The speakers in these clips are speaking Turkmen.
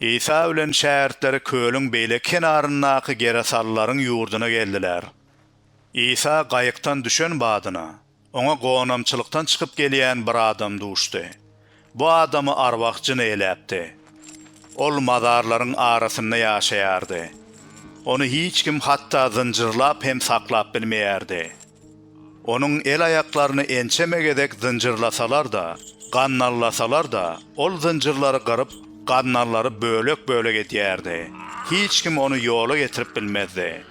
Isa bilen şägirtleri kölüň beýleki kenaryndaky gerasalylaryň ýurduna geldiler. Isa gaýykdan düşen badyna, oňa gonamçylykdan çykyp gelýän bir adam duşdy. Bu adamy arwah jyny eläpdi. Ol mazarlaryň arasynda ýaşaýardy. Ony hiç kim hatda zynjyrlap hem saklap bilmeýärdi. Onuň el-aýaklaryny ençeme gezek zynjyrlasalar-da, gannallasalar-da, ol zynjyrlary gyryp, gannallary bölek-bölek edýärdi. Hiç kim ony ýola getirip bilmezdi.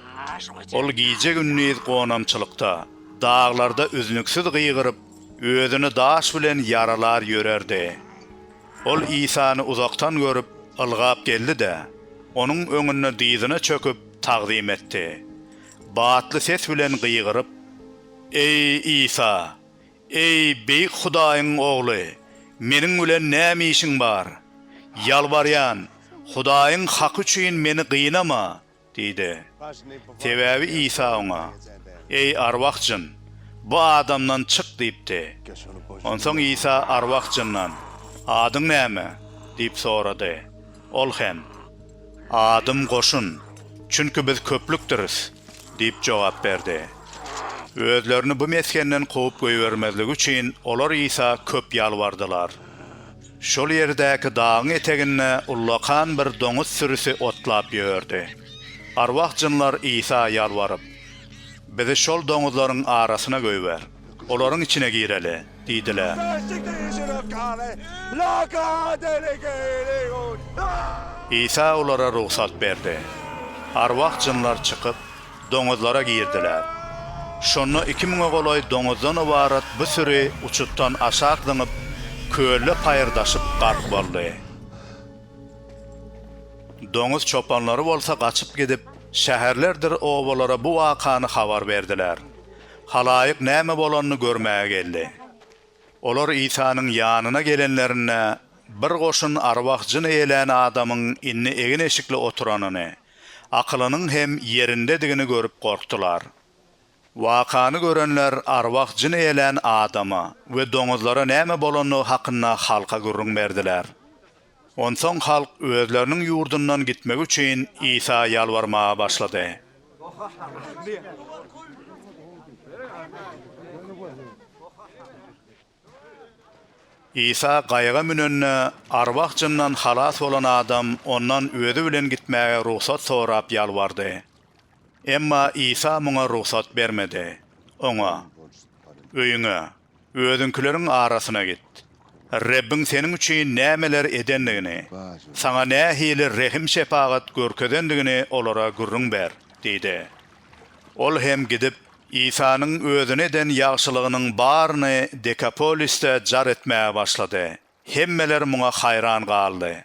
Ol gije-gündiz gonamçylykda, daglarda üznüksiz gygyryp, özüni daş bilen ýaralar ýörerdi. Ol Isany uzakdan görüp, ylgap geldi-de, Onuň öňünde dyzyna çöküp, tagzym etdi. batly ses bilen gygyryp, Eý, Isa! Eý, beýik Hudaýyň Ogly, meniň bilen näme işiň bar? Ýalbarýan, Hudaýyň haky üçin meni gynama! diýdi. Sebäbi Isa oňa, Eý, arwah jyn, bu adamdan çyk diýipdi. Onsoň Isa arwah jyndan, Adyň näme? diýip sorady. Ol hem. Adym Goşun, çünki biz köplükdiris, diýip jogap berdi. Özlerini bu mesgenden kowup goýbermezligi üçin olar Isa köp ýalbardylar. Şol ýerdäki dagyň eteginde ullakan bir doňuz sürüsi otlap ýördi. Arwah-jynlar Isa ýalbaryp, Bizi şol doňuzlaryň arasyna goýber. Olaryň içine gireli! diýdiler. Isa olara rugsat berdi. Arwah-jynlar çykyp, doňuzlara girdiler. Şonda iki müňe golaý doňuzdan ybarat bu süri uçutdan aşak zyňyp, kölde paýyrdaşyp gark boldy. Doňuz çopanlary bolsa gaçyp gidip, şäherlerdir obalara bu wakany habar berdiler. Halaýyk näme bolanyny görmäge geldi. Olar Isanyň ýanyna gelenlerinde, bir goşun arwah jyn eýelän adamyň indi egin-eşikli oturanyny, akylynyň hem ýerindedigini görüp gorkdular. Wakany görenler arwah jyn eýelän adama we doňuzlara näme bolandygy hakynda halka gürrüň berdiler. Onsoň halk özleriniň ýurdundan gitmek üçin Isa ýalbarmaga başlady. Isa gaýyga münende, arwah-jyndan halas bolan adam ondan özi bilen gitmäge rugsat sorap ýalbardy. Emma Isa muňa rugsat bermedi. Oňa, Öýüňe, Özüňkileriň arasyna git. Rebbiň seniň üçin nämeler edendigini, saňa nähili rehim-şepagat görkezendigini olara gürrüň ber diýdi. Ol hem gidip, Isanyň özüne eden ýagşylygynyň baryny Dekapolisde jar etmäge başlady. Hemmeler muňa haýran galdy.